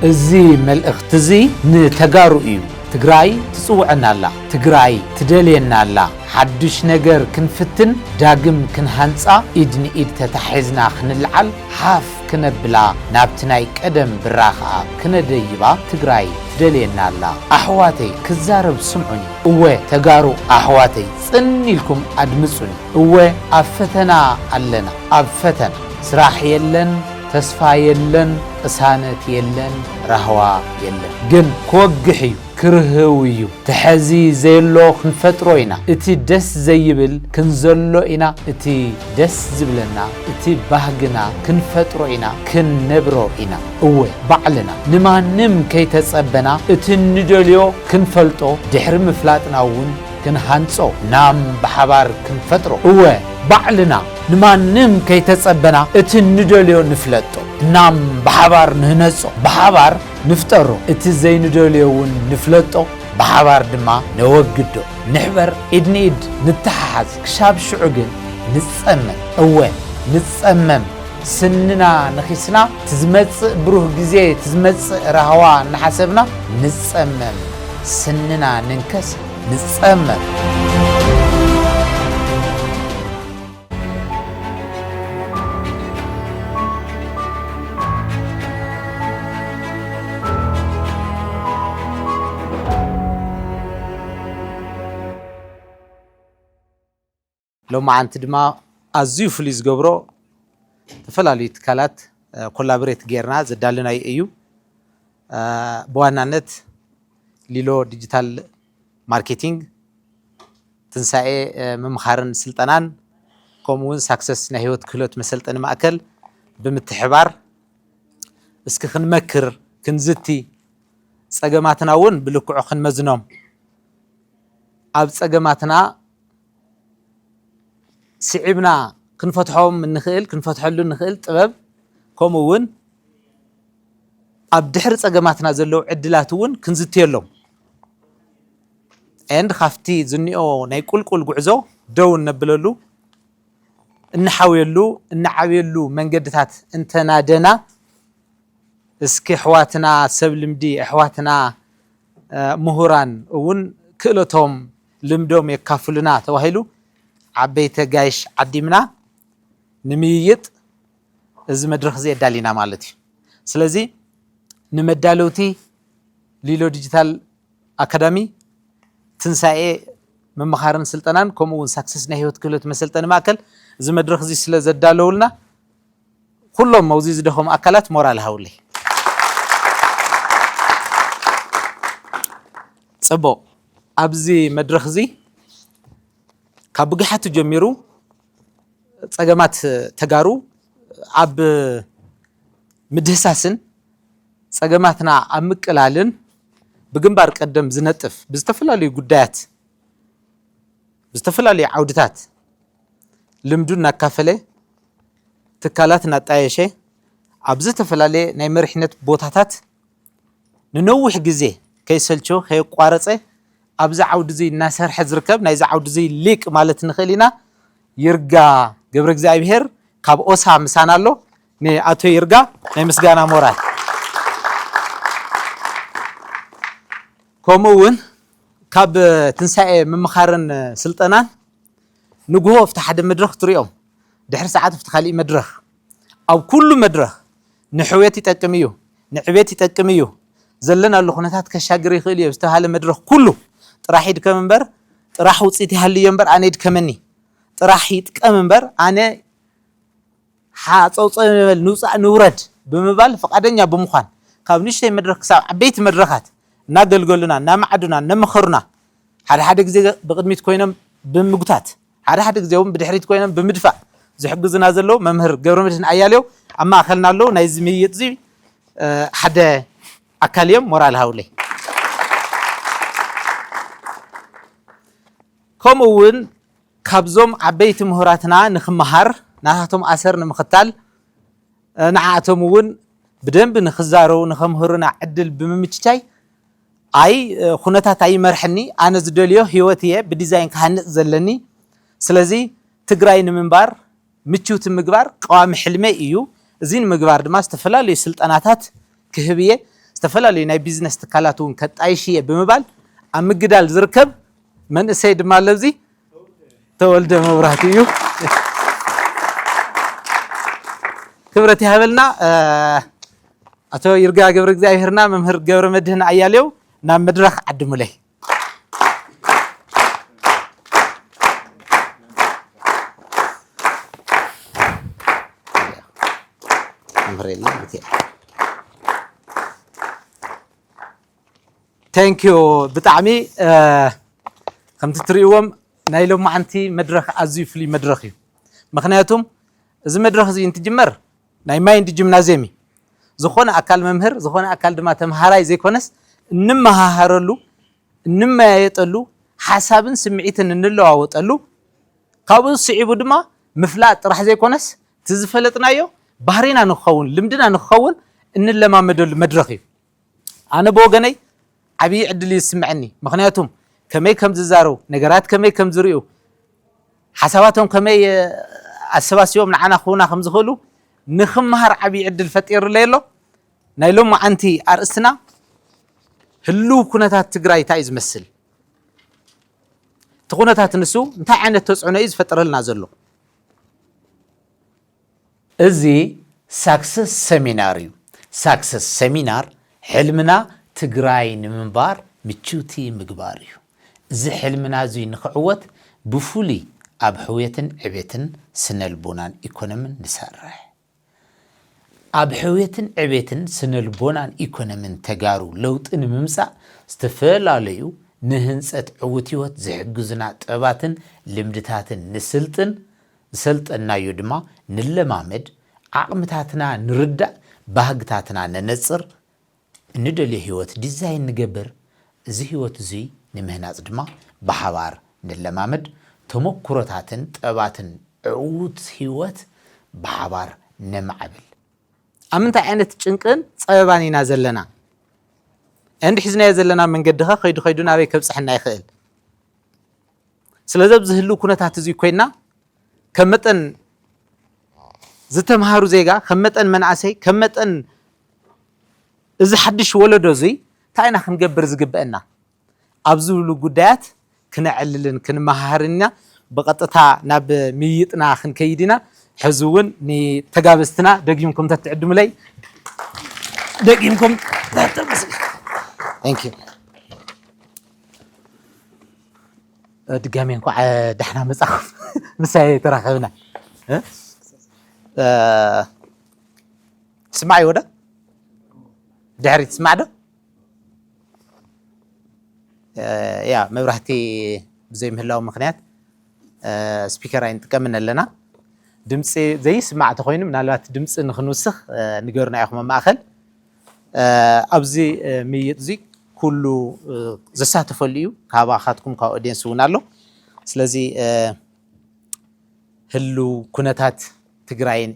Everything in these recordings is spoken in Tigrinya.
እዚ መልእኽቲ እዚ ንተጋሩ እዩ። ትግራይ ትጽውዐና ኣላ፣ ትግራይ ትደልየና ኣላ። ሓድሽ ነገር ክንፍትን ዳግም ክንሃንጻ ኢድ ንኢድ ተታሒዝና ክንልዓል ሓፍ ክነብላ ናብቲ ናይ ቀደም ብራ ከኣ ክነደይባ ትግራይ ትደልየና ኣላ ኣሕዋተይ ክዛረብ ስምዑኒ እወ ተጋሩ ኣሕዋተይ ጽን ኢልኩም ኣድምጹኒ እወ ኣብ ፈተና ኣለና ኣብ ፈተና ስራሕ የለን ተስፋ የለን ቅሳነት የለን ራህዋ የለን ግን ክወግሕ እዩ ክርህው እዩ ተሐዚ ዘየሎ ክንፈጥሮ ኢና እቲ ደስ ዘይብል ክንዘሎ ኢና እቲ ደስ ዝብለና እቲ ባህግና ክንፈጥሮ ኢና ክንነብሮ ኢና እወ ባዕልና ንማንም ከይተጸበና እቲ ንደልዮ ክንፈልጦ ድሕሪ ምፍላጥና እውን ክንሃንጾ ናም ብሓባር ክንፈጥሮ እወ ባዕልና ንማንም ከይተጸበና እቲ ንደልዮ ንፍለጦ ናም ብሓባር ንህነጾ ብሓባር ንፍጠሮ፣ እቲ ዘይንደልዮ እውን ንፍለጦ፣ ብሓባር ድማ ነወግዶ። ንሕበር፣ ኢድ ንኢድ ንተሓሓዝ፣ ክሻብ ሽዑ ግን ንጸመም። እወ ንጸመም፣ ስንና ነኺስና፣ እቲ ዝመጽእ ብሩህ ግዜ፣ እቲ ዝመጽእ ራህዋ እናሓሰብና ንጸመም። ስንና ንንከስ፣ ንጸመም። ሎማዓንቲ ድማ ኣዝዩ ፍሉይ ዝገብሮ ዝተፈላለዩ ትካላት ኮላብሬት ጌርና ዘዳለናዩ እዩ። ብዋናነት ሊሎ ዲጂታል ማርኬቲንግ፣ ትንሳኤ ምምኻርን ስልጠናን ከምኡ ውን ሳክሰስ ናይ ህይወት ክህሎት መሰልጠኒ ማእከል ብምትሕባር እስኪ ክንመክር፣ ክንዝቲ፣ ጸገማትና ውን ብልክዑ ክንመዝኖም፣ ኣብ ጸገማትና ስዒብና ክንፈትሖም እንኽእል ክንፈትሐሉ እንኽእል ጥበብ ከምኡ ውን ኣብ ድሕሪ ጸገማትና ዘለዉ ዕድላት ውን ክንዝትየሎም። and ካብቲ ዝኒኦ ናይ ቁልቁል ጉዕዞ ደው እነብለሉ፣ እንሓውየሉ፣ እንዓብየሉ መንገድታት እንተናደና እስኪ ኣሕዋትና ሰብ ልምዲ፣ ኣሕዋትና ምሁራን እውን ክእለቶም፣ ልምዶም የካፍሉና ተባሂሉ ዓበይቲ ኣጋይሽ ዓዲምና ንምይይጥ እዚ መድረኽ እዚ ኣዳሊና ማለት እዩ። ስለዚ ንመዳለውቲ ሊሎ ዲጂታል ኣካዳሚ፣ ትንሳኤ መምሃርን ስልጠናን ከምኡ እውን ሳክሰስ ናይ ህይወት ክህሎት መሰልጠኒ ማእከል እዚ መድረኽ እዚ ስለ ዘዳለውልና ኩሎም ኣብዚ ዝደኸሙ ኣካላት ሞራል ሃውለይ። ፅቡቕ ኣብዚ መድረኽ እዚ ካብ ብግሓቱ ጀሚሩ ፀገማት ተጋሩ ኣብ ምድህሳስን ፀገማትና ኣብ ምቅላልን ብግንባር ቀደም ዝነጥፍ ብዝተፈላለዩ ጉዳያት ብዝተፈላለዩ ዓውድታት ልምዱ እናካፈለ ትካላት እናጣየሸ ኣብ ዝተፈላለየ ናይ መሪሕነት ቦታታት ንነዊሕ ግዜ ከይሰልቸወ ከየቋረፀ ኣብዚ ዓውዲ እዚ እናሰርሐ ዝርከብ ናይዚ ዓውዲ እዚ ሊቅ ማለት ንኽእል ኢና ይርጋ ገብረእግዚኣብሄር ካብ ኦሳ ምሳና ኣሎ። ንኣቶ ይርጋ ናይ ምስጋና ሞራል ከምኡ እውን ካብ ትንሳኤ ምምኻርን ስልጠናን ንግሆ ኣብቲ ሓደ መድረኽ ትሪኦም ድሕሪ ሰዓት ኣብቲ ካሊእ መድረኽ ኣብ ኩሉ መድረኽ ንሕውየት ይጠቅም እዩ ንዕቤት ይጠቅም እዩ ዘለናሉ ኩነታት ከሻግር ይኽእል እዩ ዝተባሃለ መድረኽ ኩሉ ጥራሕ ይድከም እምበር ጥራሕ ውፅኢት ይሃልዮ እምበር ኣነ ይድከመኒ ጥራሕ ይጥቀም እምበር ኣነ ሓጸውጸው ንበል ንውጻእ ንውረድ ብምባል ፍቓደኛ ብምዃን ካብ ንእሽተይ መድረኽ ክሳብ ዓበይቲ መድረኻት እናገልገሉና እናመዓዱና እነመኸሩና ሓደ ሓደ ግዜ ብቕድሚት ኮይኖም ብምጉታት ሓደ ሓደ ግዜ እውን ብድሕሪት ኮይኖም ብምድፋእ ዝሕግዙና ዘለዉ መምህር ገብረመድህን ኣያሌው ኣብ ማእኸልና ኣለዉ ናይዚ ምይይጥ እዚ ሓደ ኣካል እዮም ሞራል ሃውለይ ከምኡ እውን ካብዞም ዓበይቲ ምሁራትና ንክመሃር ናታቶም ኣሰር ንምክታል ንዓኣቶም እውን ብደንቢ ንክዛረቡ ንከምህሩና ዕድል ብምምችቻይ ኣይ ኩነታት ኣይመርሕኒ ኣነ ዝደልዮ ሂወት እየ ብዲዛይን ክሃንፅ ዘለኒ ስለዚ ትግራይ ንምንባር ምችውቲ ምግባር ቀዋሚ ሕልመይ እዩ። እዚ ንምግባር ድማ ዝተፈላለዩ ስልጠናታት ክህብ እየ። ዝተፈላለዩ ናይ ቢዝነስ ትካላት እውን ከጣይሽ እየ ብምባል ኣብ ምግዳል ዝርከብ መንእሰይ ድማ ኣሎ እዚ ተወልደ መብራህቱ እዩ። ክብረት ይሃበልና ኣቶ ይርጋ ገብረ እግዚኣብሔርና መምህር ገብረ መድህን ኣያሌው ናብ መድረኽ ዓድሙለይ። ቴንክ ዩ ብጣዕሚ ከምቲ ትሪእዎም ናይ ሎማዓንቲ መድረኽ ኣዝዩ ፍሉይ መድረኽ እዩ። ምኽንያቱም እዚ መድረኽ እዚ እንትጅመር ናይ ማይንድ ጂምናዝየም እዩ። ዝኾነ ኣካል መምህር ዝኾነ ኣካል ድማ ተምሃራይ ዘይኮነስ እንመሃሃረሉ፣ እንመያየጠሉ፣ ሓሳብን ስምዒትን እንለዋወጠሉ ካብኡ ስዒቡ ድማ ምፍላጥ ጥራሕ ዘይኮነስ እቲ ዝፈለጥናዮ ባህሪና ንክኸውን ልምድና ንክኸውን እንለማመደሉ መድረኽ እዩ። ኣነ ብወገነይ ዓብዪ ዕድል እዩ ዝስምዐኒ ምኽንያቱም ከመይ ከም ዝዛረቡ ነገራት ከመይ ከም ዝሪኡ ሓሳባቶም ከመይ ኣሰባሲቦም ንዓና ክህቡና ከም ዝኽእሉ ንክምሃር ዓብዪ ዕድል ፈጢሩለይ ኣሎ ናይ ሎማዓንቲ ኣርእስትና ህልው ኩነታት ትግራይ እንታይ እዩ ዝመስል እቲ ኩነታት ንሱ እንታይ ዓይነት ተፅዕኖ እዩ ዝፈጥረልና ዘሎ እዚ ሳክሰስ ሰሚናር እዩ ሳክሰስ ሰሚናር ሕልምና ትግራይ ንምንባር ምችውቲ ምግባር እዩ እዚ ሕልምና እዙይ ንክዕወት ብፍሉይ ኣብ ሕውየትን ዕቤትን ስነልቦናን ኢኮኖምን ንሰርሕ ኣብ ሕውየትን ዕቤትን ስነልቦናን ኢኮኖምን ተጋሩ ለውጢ ንምምፃእ ዝተፈላለዩ ንህንፀት ዕውት ህይወት ዝሕግዙና ጥበባትን ልምድታትን ንስልጥን ዝሰልጠንናዮ ድማ ንለማመድ፣ ዓቕምታትና ንርዳእ፣ ባህግታትና ነነጽር፣ እንደልዮ ህይወት ዲዛይን ንገብር፣ እዚ ህይወት እዙይ ንምህናጽ ድማ ብሓባር ንለማመድ፣ ተመኩሮታትን ጥበባትን ዕዉት ህይወት ብሓባር ነማዕብል። ኣብ ምንታይ ዓይነት ጭንቅን ጸበባን ኢና ዘለና? and ሒዝናዮ ዘለና መንገዲኸ ከይዱ ከይዱ ናበይ ከብጽሐና ይኽእል? ስለዚ ኣብዚ ህልው ኩነታት እዚ ኮይና ከም መጠን ዝተምሃሩ ዜጋ ከም መጠን መንእሰይ ከም መጠን እዚ ሓድሽ ወለዶ እዙይ እንታይ ኢና ክንገብር ዝግበአና ኣብ ዝብሉ ጉዳያት ክነዕልልን ክንመሃሃርን ኢና። ብቐጥታ ናብ ምይይጥና ክንከይድ ኢና። ሕዚ እውን ንተጋበዝትና ደጊምኩም ተትዕድሙለይ ደጊምኩም ድጋሜ እንኳዕ ዳሕና መጻኹም ምሳይ ተራኸብና ትስማዕ ይወደ ድሕሪ ትስማዕ ዶ ያ መብራህቲ ብዘይምህላው ምክንያት ስፒከር ኣይንጥቀምን ኣለና ድምፂ ዘይስማዕ ተኮይኑ ምናልባት ድምፂ ንክንውስኽ ንገሩና ኢኹም ኣብ ማእኸል ኣብዚ ምይይጥ እዚ ኩሉ ዘሳተፈሉ እዩ ካባካትኩም ካብ ኦድየንስ እውን ኣሎ ስለዚ ህልው ኩነታት ትግራይን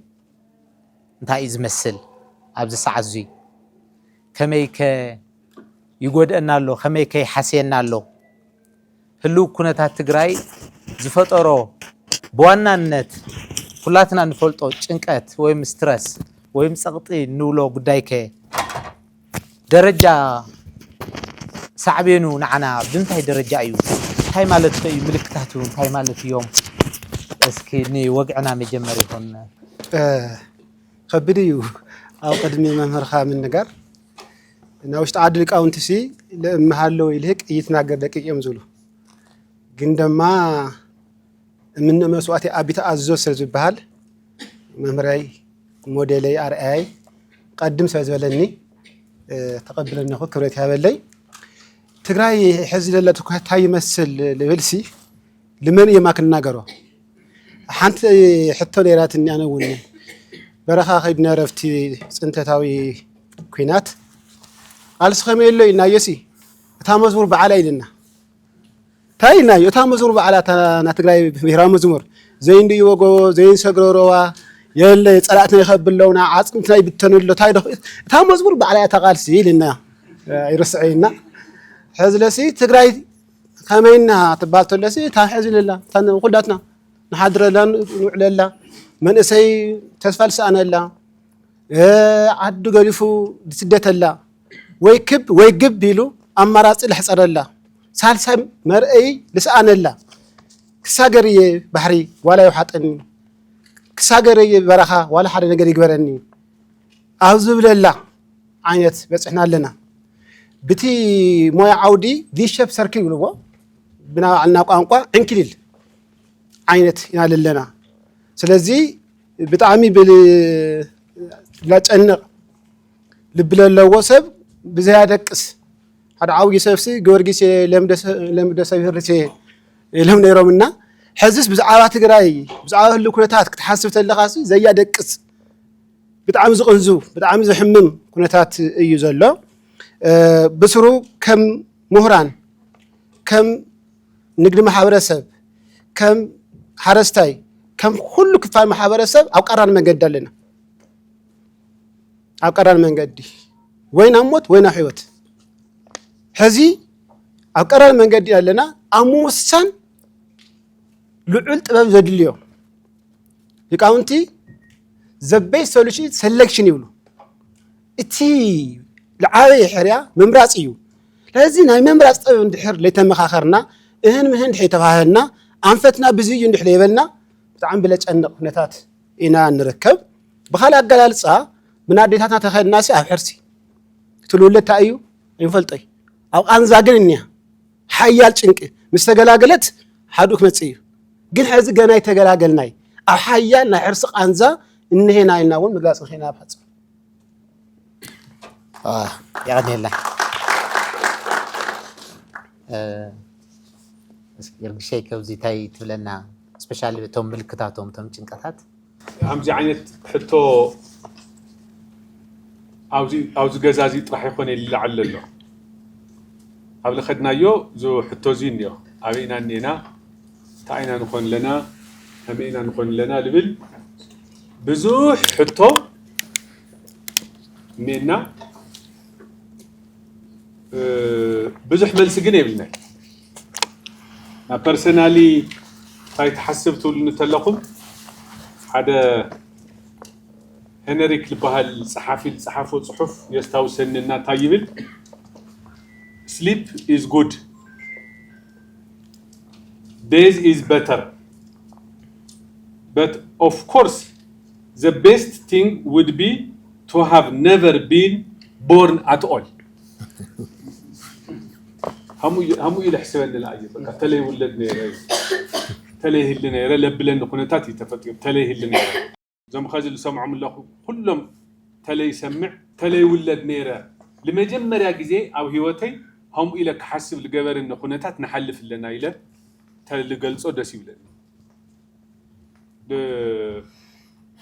እንታይ እዩ ዝመስል ኣብዚ ሰዓት እዙይ ከመይ ከ ይጎድአና ኣሎ ከመይ ከ ይሓስየና ኣሎ ህልው ኩነታት ትግራይ ዝፈጠሮ ብዋናነት ኩላትና እንፈልጦ ጭንቀት ወይም ስትረስ ወይም ፀቕጢ እንብሎ ጉዳይከ ደረጃ ሳዕቤኑ ንዓና ብምንታይ ደረጃ እዩ? እንታይ ማለትከ እዩ? ምልክታቱ እንታይ ማለት እዮም? እስኪ ንወግዕና መጀመሪ ይኹን። ከቢድ እዩ ኣብ ቅድሚ መምህርካ ምንጋር ናይ ውሽጢ ዓዲ ሊቃውንቲ ሲ ለእምሃለ ወይ ልህቅ እይትናገር ደቂቅ እዮም ዝብሉ ግን ደማ እምነ መስዋእቲ ኣቢተ ኣዞ ስለ ዝበሃል መምህረይ ሞዴለይ ኣርኣያይ ቀድም ስለ ዝበለኒ ተቐብለነኹ ክብረት ያበለይ ትግራይ ሕዚ ዘለቱ ኩነታ ይመስል ልብልሲ ልመን እየ ማክ እናገሮ ሓንቲ ሕቶ ነይራትኒ ኣነ እውን በረኻ ከይድና ረፍቲ ፅንተታዊ ኩናት ቃልሲ ከመይ ኣሎ ኢልናዮሲ እታ መዝሙር በዓላ ኢልና እንታይ ኢልናዮ እታ መዝሙር በዓላ ናይ ትግራይ ብሄራዊ መዝሙር ዘይንዲ ወጎ ዘይንሰግሮ ሮዋ የለ ፀላእትና ይኸብለውና ዓፅምትና ይብተኑ ኣሎ እንታይ ዶ እታ መዝሙር በዓላ እያ ተቓልሲ ኢልና ይርስዐይና ሕዝለሲ ትግራይ ከመይ እና ትባል ተሎሲ እታ ሕዚ ለላ እታ ኩላትና ንሓድረላ ንውዕለላ መንእሰይ ተስፋ ዝሰኣነላ ዓዱ ገዲፉ ዝስደተላ ወይ ክብ ወይ ግብ ኢሉ ኣማራፂ ለሕፀረላ ሳልሳይ መርአይ ልስኣነላ ክሳገር እየ ባሕሪ ዋላ ይውሓጠኒ ክሳገር እየ በረኻ ዋላ ሓደ ነገር ይግበረኒ ኣብ ዝብለላ ዓይነት በፅሕና ኣለና። ብቲ ሞያ ዓውዲ ቪሸፕ ሰርክል ይብልዎ ብናባዕልና ቋንቋ ዕንክሊል ዓይነት ኢና ዘለና። ስለዚ ብጣዕሚ ላጨንቕ ልቢ ለለዎ ሰብ ብዘይ ኣደቅስ ሓደ ዓብዪ ሰብሲ ጊዮርጊስ ለምደ ሰብ ህርሴ ኢሎም ነይሮምና ሕዝስ ብዛዕባ ትግራይ ብዛዕባ ህሉ ኩነታት ክትሓስብ ተለኻሲ ዘያደቅስ ብጣዕሚ ዝቕንዙ ብጣዕሚ ዘሕምም ኩነታት እዩ ዘሎ። ብስሩ ከም ሙሁራን፣ ከም ንግዲ ማሕበረሰብ፣ ከም ሓረስታይ፣ ከም ኩሉ ክፋል ማሕበረሰብ ኣብ ቀራኒ መንገዲ ኣለና። ኣብ ቀራኒ መንገዲ ወይ ናብ ሞት ወይ ናብ ሕይወት ሕዚ ኣብ ቀራኒ መንገዲ ኣለና ኣብ ምውሳን ልዑል ጥበብ ዘድልዮ ሊቃውንቲ ዘበይ ሶሉሽን ሰሌክሽን ይብሉ እቲ ልዓበየ ሕርያ ምምራፅ እዩ ስለዚ ናይ ምምራፅ ጥበብ እንድሕር ለይተመኻኸርና እህን ምህን ድሕር ተባህልና ኣንፈትና ብዚ እዩ እንድሕር ለይበልና ብጣዕሚ ብለጨንቕ ኩነታት ኢና ንርከብ ብካልእ ኣገላልፃ ምን ኣዴታትና ተኸድናሲ ኣብ ሕርሲ እቲ ልውለድ እንታይ እዩ ኣይንፈልጦይ ኣብ ቃንዛ ግን እኒያ ሓያል ጭንቂ ምስ ተገላገለት ሓድኡ ክመጽእ እዩ። ግን ሕዚ ገና ኣይተገላገልናይ ኣብ ሓያል ናይ ሕርሲ ቃንዛ እንሄና ኢልና እውን ምግላጽ ንኽእል ኢና ኣብ ሓጽር የቐንየልና የርግሸይ ከብዚ እንታይ ትብለና ስፔሻሊ እቶም ምልክታቶም እቶም ጭንቀታት ከምዚ ዓይነት ሕቶ ኣብዚ ገዛ እዚ ጥራሕ ይኾን ይልዓል ዘሎ ኣብ ለኸድናዮ ዞ ሕቶ እዚ እኒኦ ኣበይ ኢና እኒኤና እንታይ ኢና ንኾን ኣለና ከመይ ኢና ንኾን ኣለና ልብል ብዙሕ ሕቶ እኒኤና ብዙሕ መልሲ ግን የብልናይ ናብ ፐርሰናሊ ታይ ትሓስብ ትብሉኒ እንተለኹም ሓደ ሄነሪክ ዝበሃል ጸሓፊ ዝጸሓፎ ጽሑፍ የስታውሰኒ እና እንታይ ይብል ስሊፕ ኢዝ ጉድ ዴዝ ኢዝ በተር በት ኦፍ ኮርስ ዘ ቤስት ቲንግ ውድ ቢ ቱ ሃቭ ነቨር ቢን ቦርን ኣት ኦል ሃምኡ ኢለ ሕሰበኒ ለኣዩ በቃ ተለ ይውለድ ነይረ ተለ ይህሊ ነይረ ለብለኒ ኩነታት እዩ ተፈጢሩ ተለ ይህሊ ነይረ እዞም ኸዚ ልሰምዖም ኣለኹ ኩሎም ተለ ይሰምዕ ተለ ይውለድ ነይረ ልመጀመርያ ግዜ ኣብ ህይወተይ ሃምኡ ኢለ ክሓስብ ልገበርኒ ኩነታት ንሓልፍ ኣለና ኢለ ተልገልፆ ደስ ይብለኒ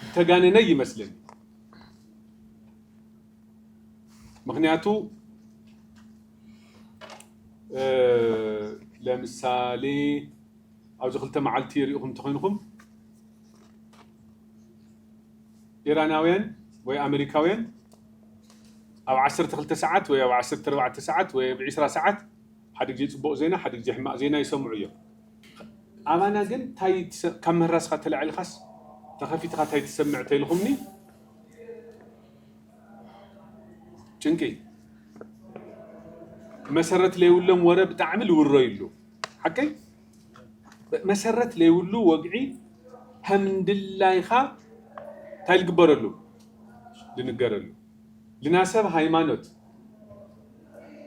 ዝተጋነነ ይመስለኒ ምክንያቱ ለምሳሌ ኣብዚ ክልተ መዓልቲ ሪኢኹም እንተኮይንኹም ኢራናውያን ወይ ኣመሪካውያን ኣብ 12 ሰዓት ወይ ኣብ 14 ሰዓት ወይ ኣብ 20 ሰዓት ሓደ ግዜ ፅቡቕ ዜና ሓደ ግዜ ሕማቕ ዜና ይሰምዑ እዮም ኣባና ግን ታይ ካብ ምህራስካ ተላዒልካስ ተኸፊትካ ታይ ትሰምዕ ተይልኹምኒ ጭንቂ መሰረት ለይብሎም ወረ ብጣዕሚ ልውረዩሉ ሓቀይ መሰረት ለይብሉ ወግዒ ከምድላይኻ እንታይ ልግበረሉ ልንገረሉ ልናሰብ ሃይማኖት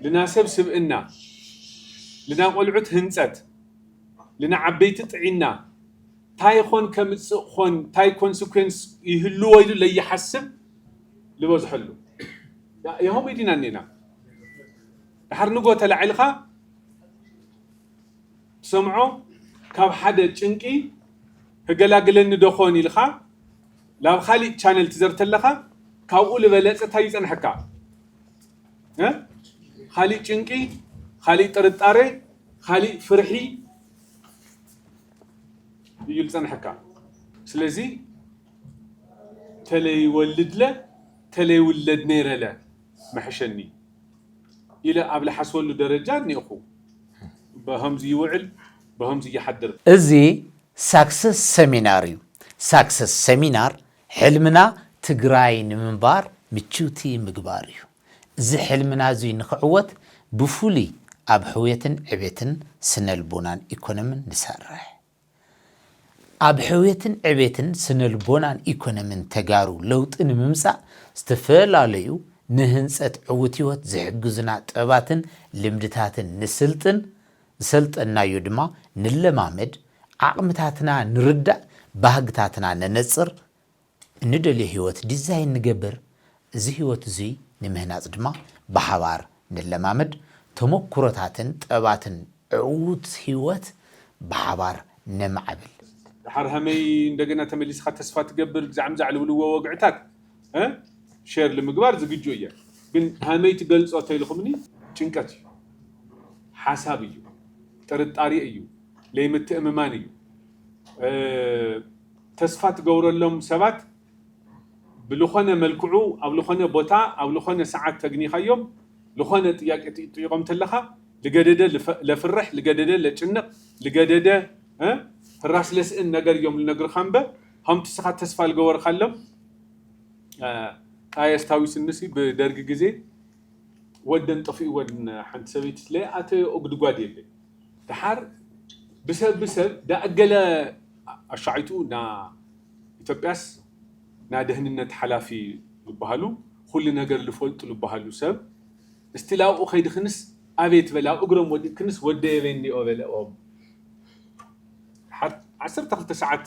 ልናሰብ ስብእና ልናቆልዑት ህንፀት ልናዓበይቲ ጥዒና ታይ ኾን ከምፅእ ኾን ታይ ኮንስኩዌንስ ይህልዎ ኢሉ ለይሓስብ ልበዝሐሉ ያሆመይ ዲና እኔና ድሓር ንጎ ተላዒልኻ ትሰምዖ ካብ ሓደ ጭንቂ ህገላግለኒ ዶ ኾን ኢልኻ ላብ ኻሊእ ቻነል ትዘር ተለኻ ካብኡ ልበለፀ ታይ ይፀንሐካ ኻሊእ ጭንቂ ኻሊእ ጥርጣረ ኻሊእ ፍርሒ እዩ ልጸንሐካ ስለዚ ተለይወልድለ ተለይውለድ ነይረለ መሐሸኒ ኢለ ኣብ ልሓስበሉ ደረጃ እኒኤኹ በኸምዚ ይውዕል በኸምዚ ይሓድር። እዚ ሳክሰስ ሰሚናር እዩ ሳክሰስ ሰሚናር ሕልምና ትግራይ ንምንባር ምችውቲ ምግባር እዩ። እዚ ሕልምና እዙይ ንክዕወት ብፍሉይ ኣብ ሕውየትን ዕቤትን ስነልቦናን ኢኮኖምን ንሰርሕ። ኣብ ሕውየትን ዕቤትን ስነልቦናን ኢኮኖምን ተጋሩ ለውጢ ንምምፃእ ዝተፈላለዩ ንህንፀት ዕውት ህይወት ዝሕግዙና ጥበባትን ልምድታትን ንስልጥን፣ ዝሰልጠንናዮ ድማ ንለማመድ፣ ዓቕምታትና ንርዳእ፣ ባህግታትና ነነፅር፣ እንደልዮ ህይወት ዲዛይን ንገብር፣ እዚ ህይወት እዙይ ንምህናፅ ድማ ብሓባር ንለማመድ፣ ተሞኩሮታትን ጥበባትን ዕዉት ህይወት ብሓባር ነማዕብል። ደሓር ሀመይ እንደገና ተመሊስኻ ተስፋ ትገብር ግዛዕም ዛዕ ልብልዎ ወግዕታት እ ሼር ልምግባር ዝግጁ እየ ግን ሀመይ ትገልፆ ተይልኹምኒ ጭንቀት እዩ ሓሳብ እዩ ጥርጣሬ እዩ ለይምትእምማን እዩ እ ተስፋ ትገብረሎም ሰባት ብልኾነ መልክዑ ኣብ ልኾነ ቦታ ኣብ ልኾነ ሰዓት ተግኒኻዮም ልኾነ ጥያቄ ትጥይቆም ተለኻ ልገደደ ለፍርሕ ልገደደ ለጭንቕ ልገደደ ህራስ ለስእን ነገር እዮም ልነግርኻ እምበ ሀምቲ እስኻ ተስፋ ልገበርኻሎም ቃ የስታዊስንሲ ብደርጊ ግዜ ወደን ጠፊእወን ሓንቲ ሰበይቲ ለይኣተዮኦ ጉድጓድ የለይ ደሓር ብሰብ ብሰብ ዳኣገለ ኣሻዒቱ እና ኢትዮጵያስ እና ደህንነት ሓላፊ ልባሃሉ ኹሉ ነገር ልፈልጡ ልባሃሉ ሰብ እስቲ ላብኡ ከይድክንስ ኣቤት በል ኣብ እግሮም ወዲቅክንስ ወደየበይ እንዲኦ በለኦም ደሓር ዓሰርተ ክልተ ሰዓት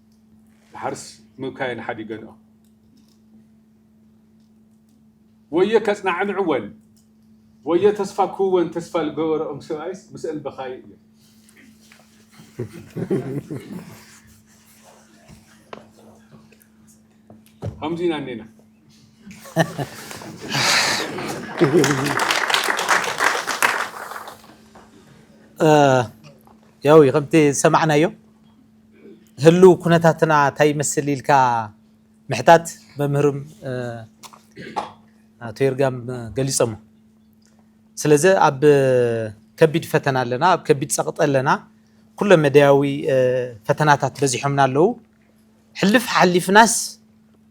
ድሓርስ ምብካየን ሓዲገንኦ ወዮ ከጽናዕንዕወን ወዮ ተስፋ ክህወን ተስፋ ዝገበረኦም ሰብኣይስ ምስአን በኻዩ እየ። ከምዚ ኢና እኔና ያው ከምቲ ዝሰማዕናዮ ህሉው ኩነታትና እንታይ ይመስል ኢልካ ምሕታት መምህርም ኣቶ ይርጋም ገሊፆሞ። ስለዚ ኣብ ከቢድ ፈተና ኣለና፣ ኣብ ከቢድ ፀቕጢ ኣለና፣ ኩለ መዳያዊ ፈተናታት በዚሖምና ኣለዉ። ሕልፍ ሓሊፍናስ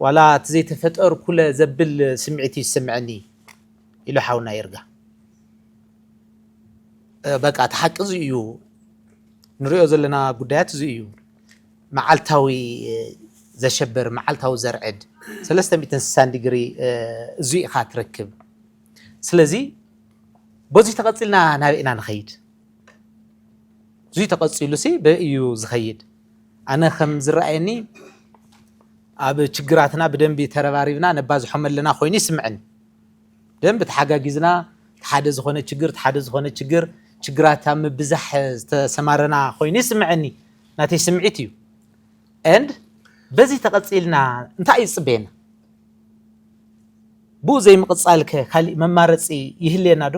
ዋላ እቲ ዘይተፈጠርኩለ ዘብል ስምዒት እዩ ዝስምዐኒ ኢሉ ሓውና ይርጋ። በቃ እቲ ሓቂ እዚ እዩ ንሪኦ ዘለና ጉዳያት እዚ እዩ መዓልታዊ ዘሸብር መዓልታዊ ዘርዕድ 360 ዲግሪ እዚ ኢኻ ትረክብ ስለዚ በዚ ተቐፂልና ናበይ ኢና ንኸይድ እዙይ ተቐፂሉሲ በእዩ ዝኸይድ ኣነ ከም ዝረኣየኒ ኣብ ችግራትና ብደንቢ ተረባሪብና ነባዝሖም ኣለና ኮይኑ ይስምዐኒ ደንብ ተሓጋጊዝና እቲ ሓደ ዝኾነ ችግር እቲ ሓደ ዝኾነ ችግር ችግራት ኣብ ምብዛሕ ዝተሰማረና ኮይኑ ይስምዐኒ ናተይ ስምዒት እዩ and በዚ ተቐፂልና እንታይ እዩ ዝፅበየና ብኡ ዘይምቕፃል ከ ካሊእ መማረፂ ይህልየና ዶ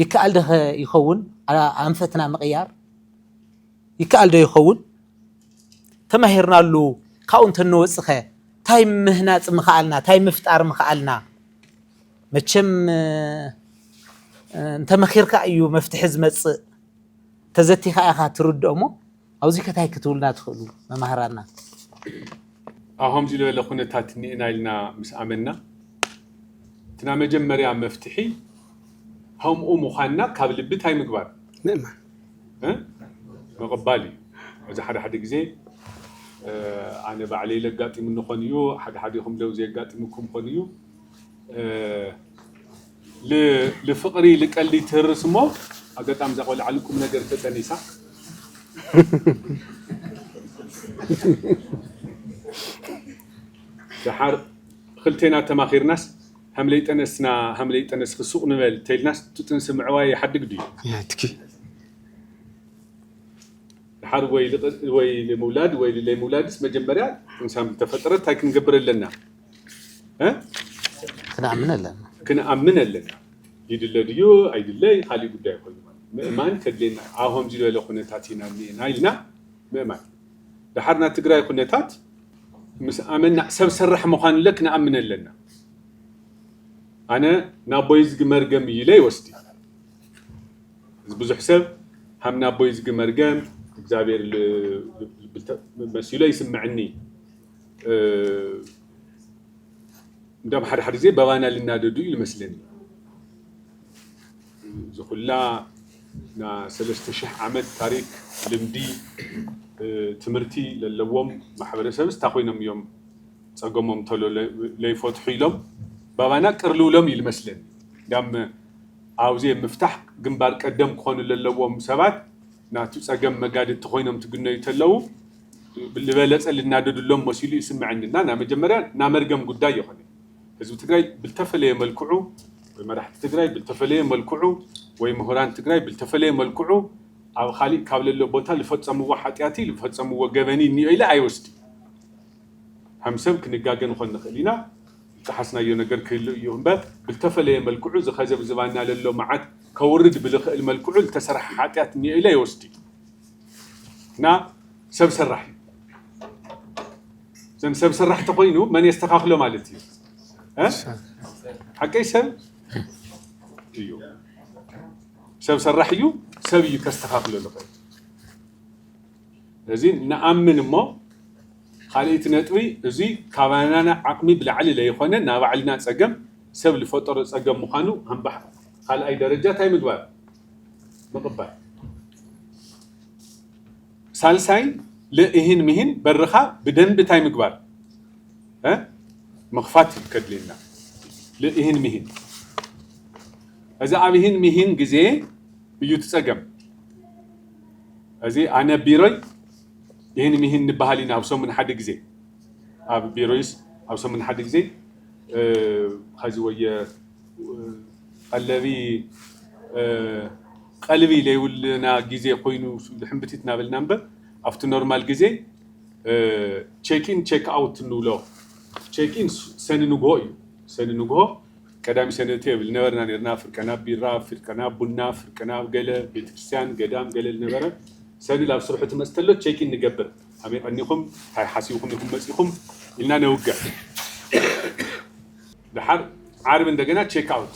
ይከኣል ዶ ከ ይኸውን ኣንፈትና ምቕያር ይከኣል ዶ ይኸውን? ተማሂርናሉ ካብኡ እንተንወጽኸ ታይ ምህናጽ ምኸኣልና? ታይ ምፍጣር ምኸኣልና? መቸም እንተመኺርካ እዩ መፍትሒ ዝመጽእ፣ ተዘቲኻ ኢኻ ትርድኦ እሞ ኣብዚከ ታይ ክትብሉና ትኽእሉ መማህራና? ኣብ ከምዚ ዝበለ ኩነታት እኒኤና ኢልና ምስ ኣመንና እቲ ናይ መጀመርያ መፍትሒ፣ ከምኡ ምዃንና ካብ ልቢ ታይ ምግባር? ምእማን። ምቕባል እዩ። እዚ ሓደ ሓደ ግዜ ኣነ ባዕለይ ለጋጢሙኒ ኾን እዩ፣ ሓደ ሓዲኹም ለው ዘየጋጢሙኩም ኾን እዩ። ል ልፍቕሪ ልቀልዲ ይትህርስ እሞ ኣገጣሚ እዛ ቆልዓ ልቁም ነገር ተጠኒሳ ደሓር ኽልቴና ተማኺርናስ ሃምለይ ጠነስና ሃምለይ ጠነስኪ ሱቕ ንበል ተይልናስ ትጥንሲ ምዕባይ ይሓድግ ድዩ? ናትኪ። ድሓር ወይ ልቕል ወይ ልምውላድ ወይ ልለይ ምውላድስ መጀመርያ ጥንሳም ልተፈጠረት እንታይ ክንገብር ኣለና? ክንኣምን ኣለና። ክንኣምን ኣለና። ይድለ ድዩ ኣይድለይ ካሊእ ጉዳይ ኮይኑ ማለት ምእማን ከድልየና ኣብ ከምዚ ዝበለ ኩነታት ኢና እኒኤና ኢልና ምእማን ደሓር ናይ ትግራይ ኩነታት ምስ ኣመና ሰብ ሰራሕ ምዃንለ ክንኣምን ኣለና ኣነ ናቦይዝጊ መርገም እዩ ኢለ ይወስዲ እዚ ብዙሕ ሰብ ሃም ናቦይዝጊ መርገም እግዚኣብሔር መሲሎ ይስምዕኒ እንደም ሓደ ሓደ ጊዜ በባና ልናደዱ እዩ ልመስለኒ እዚ ኩላ ን ሰለስተ ሽሕ ዓመት ታሪክ ልምዲ ትምህርቲ ለለዎም ማሕበረሰብስ ታይ ኮይኖም እዮም ፀገሞም ቶሎ ለይፈትሑ ኢሎም ባባና ቅር ልውሎም እዩ ልመስለኒ እንዳም ኣውዜ ምፍታሕ ግንባር ቀደም ክኾኑ ለለዎም ሰባት ናቱ ፀገም መጋድድቲ ኮይኖም ትግነዩ ተለው ልበለፀ ልናደድሎም መሲሉ ይስመዐኒ እና ናመጀመርያ ናመርገም ጉዳይ የኾነይ ህዝቢ ትግራይ ብልተፈለየ መልክዑ ወይ መራሕቲ ትግራይ ብልተፈለየ መልክዑ ወይ ምሁራን ትግራይ ብልተፈለየ መልክዑ ኣብ ኻሊእ ካብ ለሎ ቦታ ልፈፀምዎ ሓጥያትይ ልፈፀምዎ ገበንይ እኒኦ ኢለ ኣይወስድን። ሀም ሰብ ክንጋገ ንኾን ንኽእል ኢና፣ ልጠሓስናዮ ነገር ክህሉ እዩ እምበር ብልተፈለየ መልክዑ እዚ ኸዚ ኣብ ዝባንና ለሎ መዓት ከውርድ ብልኽእል መልክዑ ልተሰርሐ ሓጥያት እኒኦ ኢለ ኣይወስድን እና ሰብ ሰራሕ እዩ። እዞም ሰብ ሰራሕ ተኮይኑ መን የስተካክሎ ማለት እዩ ሓቀይ ሰብ እዩ ሰብ ሰራሕ እዩ ሰብ እዩ ከስተካክሎ ዝኽእል እዚ ንኣምን እሞ ካልእቲ ነጥቢ እዚ ካባና ዓቕሚ ብላዕሊ ለይኮነ ናብ ባዕልና ፀገም ሰብ ዝፈጠሮ ፀገም ምዃኑ ሃምባሕ ካልኣይ ደረጃ እንታይ ምግባር ምቕባል ሳልሳይ ል እሂን ምሂን በርኻ ብደንቢ ታይ ምግባር እ ምኽፋት እዩ ከድልየና ል እሂን ምሂን እዚ ኣብ እሂን ምሂን ግዜ እዩ እቲ ፀገም እዚ ኣነ ቢሮይ እሂን ምሂን ንበሃል ኢና ኣብ ሰሙን ሓደ ግዜ ኣብ ቢሮይስ ኣብ ሰሙን ሓደ ግዜ ኸዚ ወየ ቐለቢ ቀልቢ ለይብሉና ግዜ ኮይኑ ሕምብቲት ናበልና እምበር ኣብቲ ኖርማል ግዜ ቸክ ኢን ቸክ ኣውት እንብሎ ቸክ ኢን ሰኒ ንግሆ እዩ ሰኒ ንግሆ ቀዳሚ ሰኒ እትዮ ብል ነበርና ነርና ፍርቀ ናብ ቢራ ፍርቀ ናብ ቡና ፍርቀ ናብ ገለ ቤተክርስትያን ገዳም ገለ ልነበረ ሰኒ ላብ ስርሑ ትመጽእ ተሎ ቸክ ኢን ንገብር ኣመይ ቀኒኹም ታይ ሓሲብኹም ኢኹም መጺኹም ኢልና ነውግዕ ደሓር ዓርቢ እንደገና ቸክ ኣውት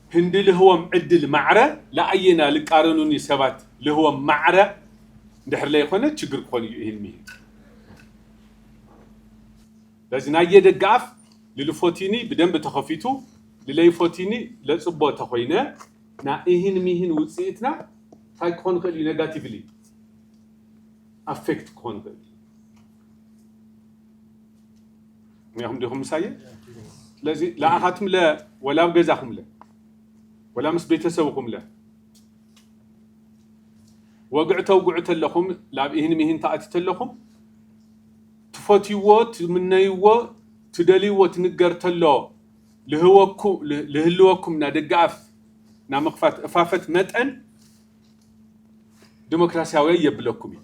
ህንዲ ልህቦም ዕድል ማዕረ ለኣየና ልቃረኑኒ ሰባት ልህቦም ማዕረ እንድሕር ለይኾነ ችግር ክኾን እዩ እሂን ምሂን በዚ ናየ ደገ ኣፍ ልልፎቲኒ ብደንብ ተኸፊቱ ልለይፎቲኒ ለፅቦ ተኾይነ ናይ እሂን ምሂን ውፅኢትና ታይ ክኾን ይኽእል እዩ ነጋቲቭሊ ኣፌክት ክኾን ይኽእል እዩ። እኒኹም ዲኹም ምሳየ ስለዚ ለኣኻትም ለ ወላ ኣብ ገዛኹም ለ ወላ ምስ ቤተሰብኹም ለ ወግዕ ተውግዑ ተለኹም ላብ ኢህን ሚህን ተኣቲ ተለኹም ትፈትይዎ ትምነይዎ ትደልይዎ ትንገር ተሎ ልህልወኩም ና ደገ ኣፍ ና ምኽፋት እፋፈት መጠን ዲሞክራሲያዊ የብለኩም እዩ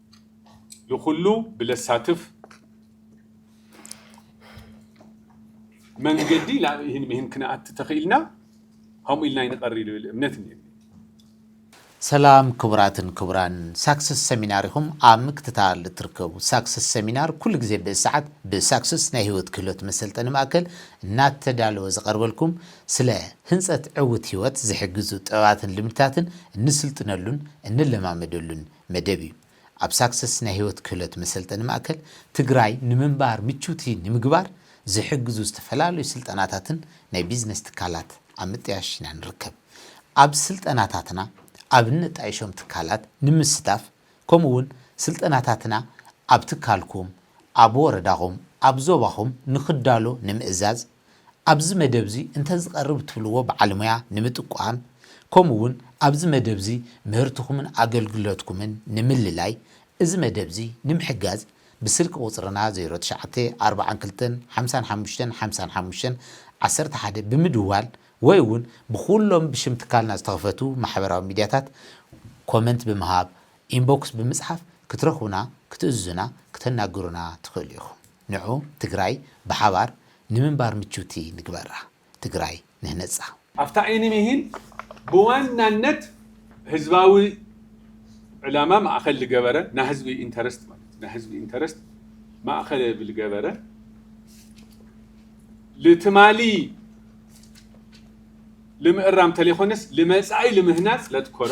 ንኹሉ ብለሳትፍ መንገዲ ናብ ይህን ምሂን ክንኣቲ ተኽኢልና ከምኡ ኢልና ይንቐሪ ልብል እምነት እኒ ሰላም ክቡራትን ክቡራን ሳክስስ ሰሚናር ኢኹም ኣብ ምክትታል እትርከቡ ሳክስስ ሰሚናር ኩሉ ግዜ ብእሰዓት ብሳክስስ ናይ ህይወት ክህሎት መሰልጠኒ ማእከል እናተዳለወ ዝቐርበልኩም ስለ ህንፀት ዕውት ህይወት ዝሕግዙ ጥበባትን ልምድታትን እንስልጥነሉን እንለማመደሉን መደብ እዩ። ኣብ ሳክሰስ ናይ ህይወት ክህሎት መሰልጠኒ ማእከል፣ ትግራይ ንምንባር ምችውቲ ንምግባር ዝሕግዙ ዝተፈላለዩ ስልጠናታትን ናይ ቢዝነስ ትካላት ኣብ ምጥያሽ ኢና ንርከብ። ኣብ ስልጠናታትና ኣብ እነጣይሾም ትካላት ንምስታፍ ከምኡ እውን ስልጠናታትና ኣብ ትካልኩም፣ ኣብ ወረዳኹም፣ ኣብ ዞባኹም ንክዳሎ ንምእዛዝ፣ ኣብዚ መደብዚ እንተ ዝቐርብ እትብልዎ በዓልሞያ ንምጥቋም ከምኡውን ኣብዚ መደብዚ ምህርትኹምን ኣገልግሎትኩምን ንምልላይ እዚ መደብዚ ንምሕጋዝ ብስልኪ ቁጽርና ዜሮ ትሽዓተ ኣርብዓን ክልተን ሓምሳን ሓሙሽተን ሓምሳን ሓሙሽተን ዓሰርተ ሓደ ብምድዋል ወይ እውን ብኹሎም ብሽም ትካልና ዝተኸፈቱ ማሕበራዊ ሚድያታት ኮመንት ብምሃብ ኢንቦክስ ብምጽሓፍ ክትረኽቡና ክትእዝዙና ክተናግሩና ትኽእሉ ኢኹም። ንዑ ትግራይ ብሓባር ንምንባር ምችውቲ ንግበራ። ትግራይ ንህነፃ። ኣብታ ዒኒ ሚሂን ብዋናነት ህዝባዊ ዕላማ ማእኸል ልገበረ ናይ ህዝቢ ኢንተረስት ማለት እዩ ናይ ህዝቢ ኢንተረስት ማእኸለ ብልገበረ ልትማሊ ልምእራም ተለይኾነስ ልመፃኢ ልምህናፅ ለትኮረ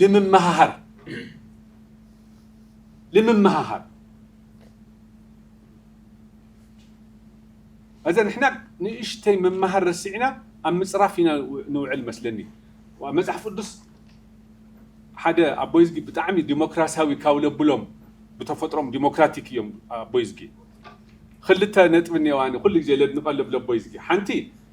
ልምመሃሃር ልምመሃሃር እዚ ንሕና ንእሽተይ ምምሃር ረሲዕና ኣብ ምፅራፍ ኢና ንውዕል መስለኒ መፅሓፍ ቅዱስ ሓደ ኣቦይዝጊ ብጣዕሚ ዲሞክራሲያዊ ካብ ለብሎም ብተፈጥሮም ዲሞክራቲክ እዮም ኣቦይዝጊ ክልተ ነጥቢ እኒኦዋኒ ኩሉ ግዜ ለድንቀለብ ለቦይዝጊ ሓንቲ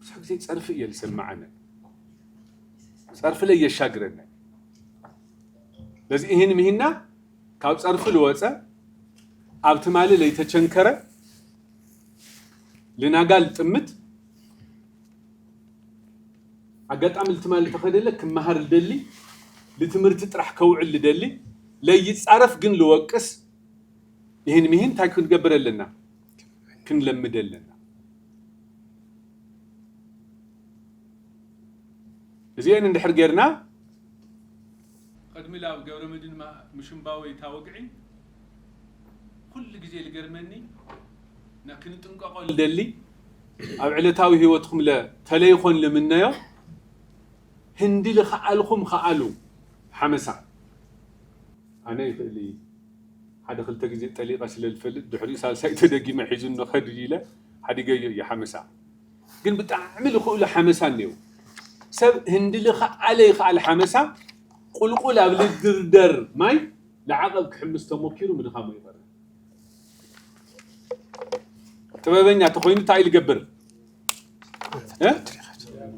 ብዙሕ ግዜ ጸርፊ እየ ዝሰማዓነ ጸርፊ ለይ የሻግረነ ለዚ እህን ምህና ካብ ጸርፊ ልወጸ ኣብ ትማሊ ለይተቸንከረ ልናጋ ልጥምት ኣጋጣሚ ልትማሊ ተኸደለ ክመሃር ልደሊ ልትምህርቲ ጥራሕ ከውዕል ልደሊ ለይጻረፍ ግን ልወቅስ ይህን ምሂን እንታይ ክንገብር ኣለና ክንለምድ ኣለና። እዚኤን እንድሕር ጌርና። ቐድሚ ላብ ገብረመድህን ምሽንባወይ እታ ወግዒ ኩሉ ግዜ ልገርመኒ እና ክንጥንቀቆ ልደሊ ኣብ ዕለታዊ ህይወትኩም ለ ተለይኾን ልምነዮ ህንዲ ልኸኣልኹም ኸኣሉ ሓመሳ ኣነ ይኽእል እዪ። ሓደ ክልተ ግዜ ጠሊቐ ስለ ዝፈልጥ ድሕሪኡ ሳልሳይ ተደጊመ ሒዙኒ ከድሪ ኢለ ሓዲገዮ እየ ሓመሳ ግን ብጣዕሚ ልኽእሉ ሓመሳ እኔዉ ሰብ ህንዲ ልኽኣለ ይኽኣል ሓመሳ ቁልቁል ኣብ ልድርደር ማይ ልዓቐብ ክሕምስ ተሞኪሩ ምድኻሙ ይቐር ጥበበኛ ተኾይኑ እንታይ እዩ ልገብር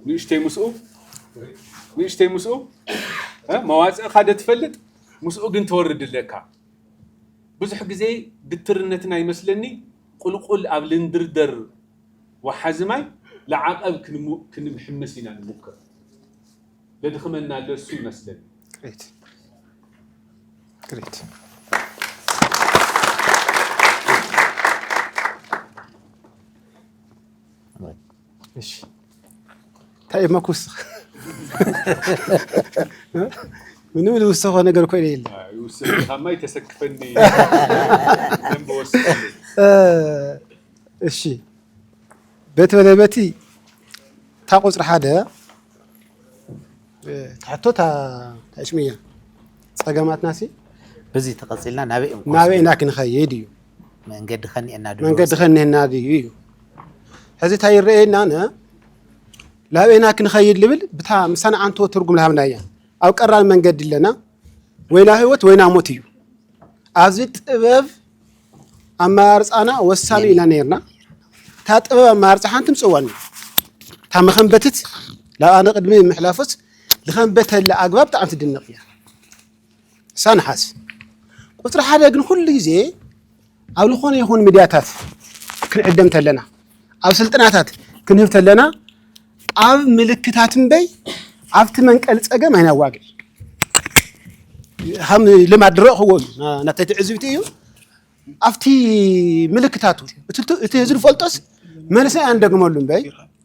ንእሽተይ ምስኡ ንእሽተይ ምስኡ መዋፅእኻ ዶ ትፈልጥ ምስኡ ግን ትወርድ ኣለካ። ብዙሕ ግዜ ግትርነትና ይመስለኒ ቁልቁል ኣብ ልንድርደር ወሓዚ ማይ ልዓቐብ ክንምሕምስ ኢና ንሙክር። ለድኽመና ኣሎ እሱ ይመስለኒ። Great. Great. እሺ እንታይ እሞ ክውስኽ ምንም ልውሰኾ ነገር ኮይነ የለ ይውሰካማ ይተሰክፈኒ ደንበ ወስድ እሺ በቲ ወደ በቲ እታ ቁፅሪ ሓደ ትሕቶ ታሽሙ እያ ፀገማትና ሲ በዚ ተቐፂልና ናበይ ናበይ ኢና ክንኸይድ እዩ መንገዲ ከኒኤና ድዩ መንገዲ ከኒኤና ድዩ እዩ ሕዚ እንታይ ይረኣየና ን ላበና ክንኸይድ ልብል ብታ ምሳና ዓንቶ ትርጉም ልሃብና እያ ኣብ ቀራን መንገዲ ኣለና ወይና ህይወት ወይና ሞት እዩ ኣብዚ ጥበብ ኣመራርፃና ወሳኒ ኢና ነርና እታ ጥበብ ኣመራርፃ ሓንቲ ምፅዋን እዩ እታ መኸንበትት ላብኣ ንቅድሚ ምሕላፎስ ዝኸንበተላ ኣግባብ ብጣዕሚ ትድነቕ እያ ሳንሓስ ቁፅሪ ሓደ ግን ኩሉ ግዜ ኣብ ዝኾነ ይኹን ሚድያታት ክንዕደም ተለና ኣብ ስልጠናታት ክንህብ ተለና ኣብ ምልክታት እምበይ ኣብቲ መንቀሊ ፀገም ኣይናዋግዕ ከም ልማድ ድረእኽዎ እዩ ናተይ ትዕዝብቲ እዩ ኣብቲ ምልክታቱ እቲ ህዝቢ ዝፈልጦስ መልሰ ኣንደግመሉ እምበይ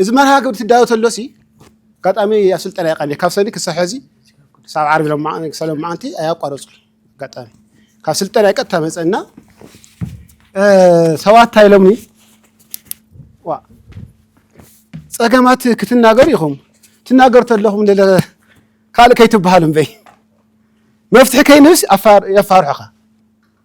እዚ መርሃ ግብሪ ትዳሎ ተሎሲ ኣጋጣሚ ኣብ ስልጠና ይቀኒ ካብ ሰኒ ክሳብ ሕዚ ክሳብ ዓርቢ ክሳብ ሎማዓንቲ ኣያቋረፁ ኣጋጣሚ ካብ ስልጠና ይቀጥታ መፀና ሰባት እንታይ ኢሎምኒ ዋ ፀገማት ክትናገሩ ኢኹም ትናገሩ ተለኹም ካልእ ከይትበሃሉ እምበይ መፍትሒ ከይንብስ የፋርሑኻ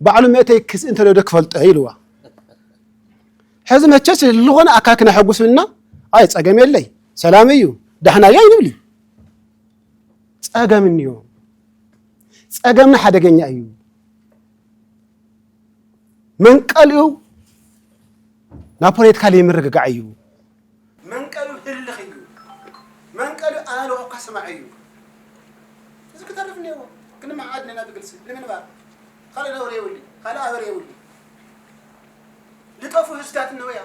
ባዕሉ መእተይ ክስ እንተሎ ዶ ክፈልጦ እየ ኢልዋ። ሕዚ መቸስ ዝኾነ ኣካክና ሕጉሱልና ኣይ ጸገም የለይ ሰላም እዩ ዳሕና እዩ ኣይንብሊ ጸገም እንዮ ጸገምና ሓደገኛ እዩ መንቀልኡ ናብ ፖለቲካ ዘይምርግጋዕ እዩ መንቀሉ ህልኽ እዩ መንቀሉ ኣእልኾ ከስማዕ እዩ እዚ ክተርፍ እኔዎ ክንመዓዓድ እኔና ብግልፂ ንምንባር ኻልእ ነውሪ የብሉይ ኻልእ ኣበር የብሉይ ልጠፉ ህዝታት እነውያ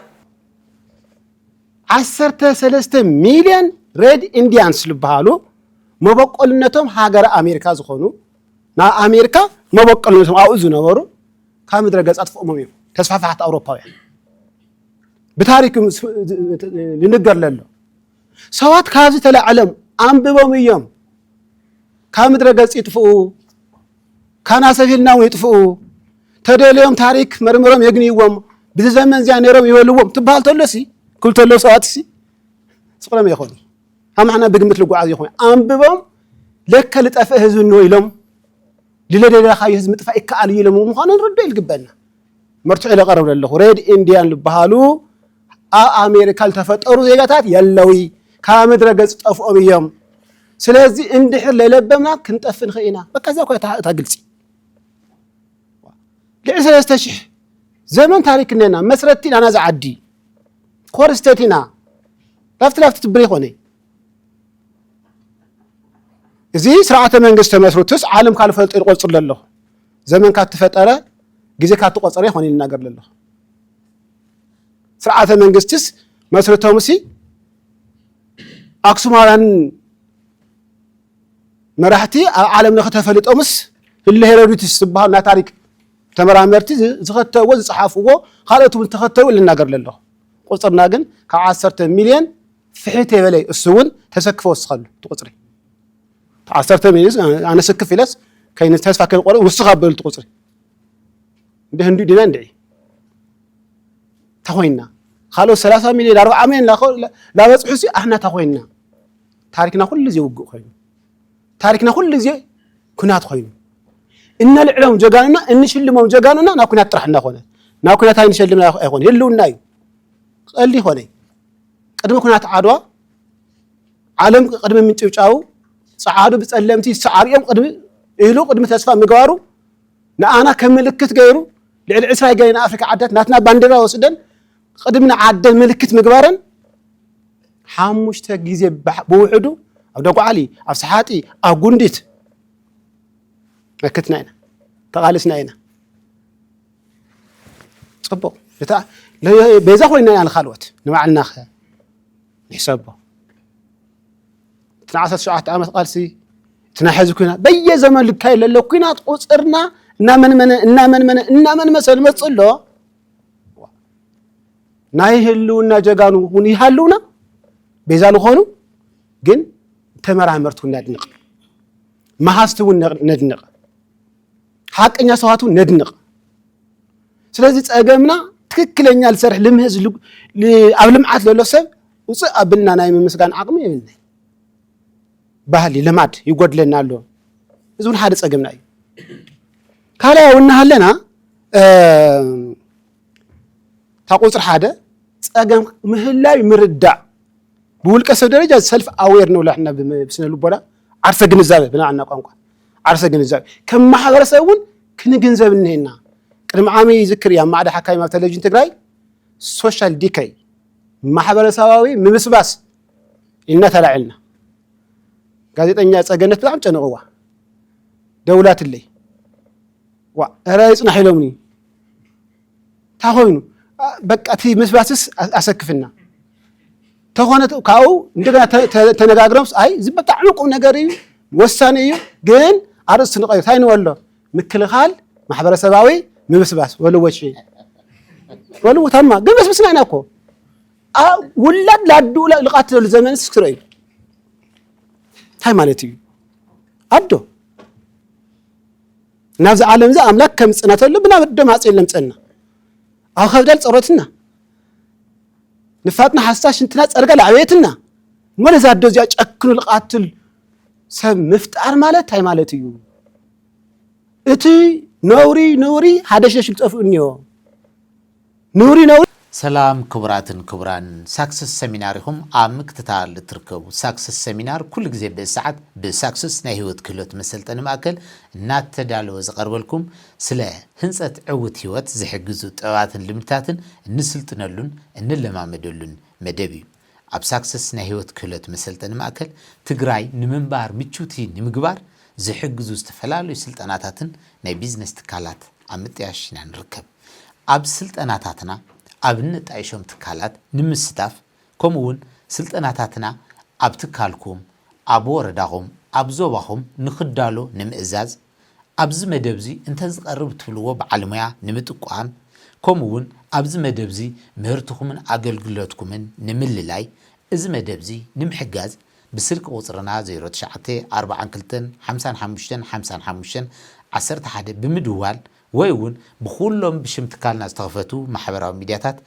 ዓሰርተ ሰለስተ ሚልዮን ሬድ ኢንዲያንስ ዝበሃሉ መበቆልነቶም ሃገረ ኣሜሪካ ዝኾኑ ናብ ኣሜሪካ መበቆልነቶም ኣብኡ ዝነበሩ ካብ ምድረ ገፅ ኣጥፍኦሞም እዮም ተስፋፋሕቲ ኣውሮፓውያን ብታሪክ ንንገር ለሎ ሰባት ካብዚ ተላዕለም ኣንብቦም እዮም ካብ ምድረ ገጽ ይጥፍኡ ካናሰፊልና እውን ይጥፍኡ ተደልዮም ታሪክ መርምሮም የግንይዎም ብዚ ዘመን እዚኣ ነይሮም ይበልዎም ትበሃል ተሎ ሲ ክብል ተሎ ሰባት ሲ ስቕሎም ይኾኑ ኣማሕና ብግምት ልጓዓዝ ይኾኑ ኣንብቦም ለከ ልጠፍእ ህዝቢ እንሆ ኢሎም ልለደለኻዮ ህዝቢ ምጥፋእ ይከኣል እዩ ኢሎም ምዃኑ ንርዶ ይልግበና መርትዖ ኢለ ቀርብ ለለኹ ሬድ ኢንድያን ልበሃሉ ኣብ ኣሜሪካ ልተፈጠሩ ዜጋታት የለዊ ካብ ምድረ ገጽ ጠፍኦም እዮም ስለዚ እንድሕር ለይለበምና ክንጠፍ ንኽእል ኢና በቃ እዚኣ እኳ እታ ግልጺ ልዕሊ ሰለስተ ሽሕ ዘመን ታሪክ እነና መስረቲ ናና ዝዓዲ ኮር ስተት ኢና ላፍቲ ላፍቲ ትብር ይኾነ እዚ ስርዓተ መንግስቲ ተመስርቱስ ዓለም ካልፈልጦ ይቆፅር ኣለኹ ዘመንካ እትፈጠረ ግዜካ እትቆፀረ ይኾን እዩ ልናገር ዘለኹ ስርዓተ መንግስትስ መስርቶም ሲ ኣክሱማውያን መራሕቲ ኣብ ዓለም ለኸ ተፈሊጦምስ ህለ ሄሮድትስ ዝበሃሉ ናይ ታሪክ ተመራመርቲ ዝኸተብዎ ዝፀሓፍዎ ካልኦት እውን ተኸተቡ ልናገር ዘለኹ ቁፅርና ግን ካብ ዓሰርተ ሚልዮን ፍሒት የበለይ እሱ እውን ተሰክፈ ወስኸሉ እቲ ቁፅሪ ዓሰርተ ሚኒት ኣነ ስክፍ ኢለስ ከይነ ተስፋ ከይቆርጥ ውስኻ በልቲ ቁፅሪ እንደ ህንዱ ዲና እንድዒ ተኮይና ካልኦት ሰላሳ ሚሊዮን ኣርባዓ ሚሊዮን ላበፅሑ ሲ ኣሕና ተኮይና ታሪክና ኩሉ ግዜ ውግእ ኮይኑ ታሪክና ኩሉ ግዜ ኩናት ኮይኑ እነልዕሎም ጀጋኑና እንሽልሞም ጀጋኑና ናብ ኩናት ጥራሕ እናኮነ ናብ ኩናት ኣይንሸልምና ኣይኮነ ህልውና እዩ ቀሊ ኮነ ቅድሚ ኩናት ዓድዋ ዓለም ቅድሚ ምንጭብጫቡ ጸዓዱ ብጸለምቲ ዝሰዓሩ'ዮም ቅድሚ ኢሉ ቅድሚ ተስፋ ምግባሩ ንኣና ከም ምልክት ገይሩ ልዕሊ ዕስራ ገይና ኣፍሪካ ዓድታት ናትና ባንዴራ ወስደን ቅድሚ ንዓደን ምልክት ምግባረን ሓሙሽተ ግዜ ብውሕዱ ኣብ ደጉዓሊ ኣብ ሰሓጢ ኣብ ጉንዲት መክትና ኢና ተቓሊስና ኢና ፅቡቕ ቤዛ ኮይና ኢና ንካልኦት ንባዕልና ኸ ንሕሰቦ እቲ ናይ ዓሰርተ ሸውዓተ ዓመት ቃልሲ እቲ ናይ ሕዚ ኩናት በየዘመን ዝካየድ ዘሎ ኩናት ቁፅርና እናመንመነ እናመንመነ እናመንመሰ ዝመፅእ ኣሎ ናይ ህልውና ጀጋኑ እውን ይሃልውና ቤዛ ዝኾኑ ግን ተመራመርቲ እውን ነድንቕ መሃዝቲ እውን ነድንቕ ሓቀኛ ሰባት እውን ነድንቕ። ስለዚ ጸገምና ትክክለኛ ዝሰርሕ ልምህዝ ኣብ ልምዓት ዘሎ ሰብ ውፅእ ኣብልና ናይ ምምስጋን ዓቕሚ የብልና ባህሊ ልማድ ይጎድለና ኣሎ እዚ እውን ሓደ ጸገምና እዩ ካልኣይ እውን እናሃለና እታ ቁፅሪ ሓደ ጸገም ምህላይ ምርዳእ ብውልቀ ሰብ ደረጃ ሰልፍ ኣዌር ንብሎ ሕና ብስነ ልቦና ዓርሰ ግንዛበ ብናዓና ቋንቋ ዓርሰ ግንዛበ ከም ማሕበረሰብ እውን ክንግንዘብ እኒሀና ቅድሚ ዓሚ ይዝክር እያ ማዕዳ ሓካይም ኣብ ቴሌቭዥን ትግራይ ሶሻል ዲከይ ማሕበረሰባዊ ምብስባስ ኢልና ተላዒልና ጋዜጠኛ ፀገነት ብጣዕሚ ጨንቕዋ ደውላትለይ ዋ እረ ይፅናሕ ኢሎምኒ እንታይ ኮይኑ በቃ እቲ ምስባስስ ኣሰክፍና ተኾነ ካብኡ እንደገና ተነጋግሮምስ ኣይ እዚ ብጣዕሚ ቁም ነገር እዩ ወሳኒ እዩ ግን ኣርእስቲ ንቀይር እንታይ ንበሎ ምክልኻል ማሕበረሰባዊ ምብስባስ ወልወጪ ወልው ተማ ግን በስብስና ኢና እኮ ውላድ ላዱ ልቃትለሉ ዘመን ስክረ እዩ እንታይ ማለት እዩ ኣዶ ናብዚ ዓለምዚ ኣምላክ ከምጽና ተሎ ብናብ ደም ኣጽል ለምጸና ኣብ ከብዳል ጸሮትና ንፋጥና ሓስታ ሽንትና ጸርጋ ላዕበየትና ሞለ ዛዶ እዚኣ ጨክኑ ልቃትል ሰብ ምፍጣር ማለት ታይ ማለት እዩ እቲ ነውሪ ነውሪ ሃደሽደሽ ዝጠፍኡ እኒኦ ንውሪ ነውሪ። ሰላም ክቡራትን ክቡራን ሳክስስ ሰሚናር ኢኹም ኣብ ምክትታል እትርከቡ ሳክስስ ሰሚናር ኩሉ ግዜ ብእዚ ሰዓት ብሳክስስ ናይ ህይወት ክህሎት መሰልጠኒ ማእከል እናተዳለወ ዝቀርበልኩም ስለ ህንጸት ዕውት ህይወት ዝሕግዙ ጥበባትን ልምድታትን እንስልጥነሉን እንለማመደሉን መደብ እዩ ኣብ ሳክስስ ናይ ህይወት ክህሎት መሰልጠኒ ማእከል ትግራይ ንምንባር ምችውቲ ንምግባር ዝሕግዙ ዝተፈላለዩ ስልጠናታትን ናይ ቢዝነስ ትካላት ኣብ ምጥያሽ ኢና ንርከብ። ኣብ ስልጠናታትና ኣብ እነጣይሾም ትካላት ንምስታፍ ከምኡ እውን ስልጠናታትና ኣብ ትካልኩም፣ ኣብ ወረዳኹም፣ ኣብ ዞባኹም ንክዳሎ ንምእዛዝ፣ ኣብዚ መደብ እዚ እንተዝቐርብ እትብልዎ በዓል ሙያ ንምጥቋም ከምኡ እውን ኣብዚ መደብ እዚ ምህርትኹምን ኣገልግሎትኩምን ንምልላይ እዚ መደብ እዚ ንምሕጋዝ ብስልኪ ቁፅርና ዜሮ ትሽዓተ ኣርብዓን ክልተን ሓምሳን ሓሙሽተን ሓምሳን ሓሙሽተን ዓሰርተ ሓደ ብምድዋል ወይ እውን ብኹሎም ብሽም ትካልና ዝተኸፈቱ ማሕበራዊ ሚድያታት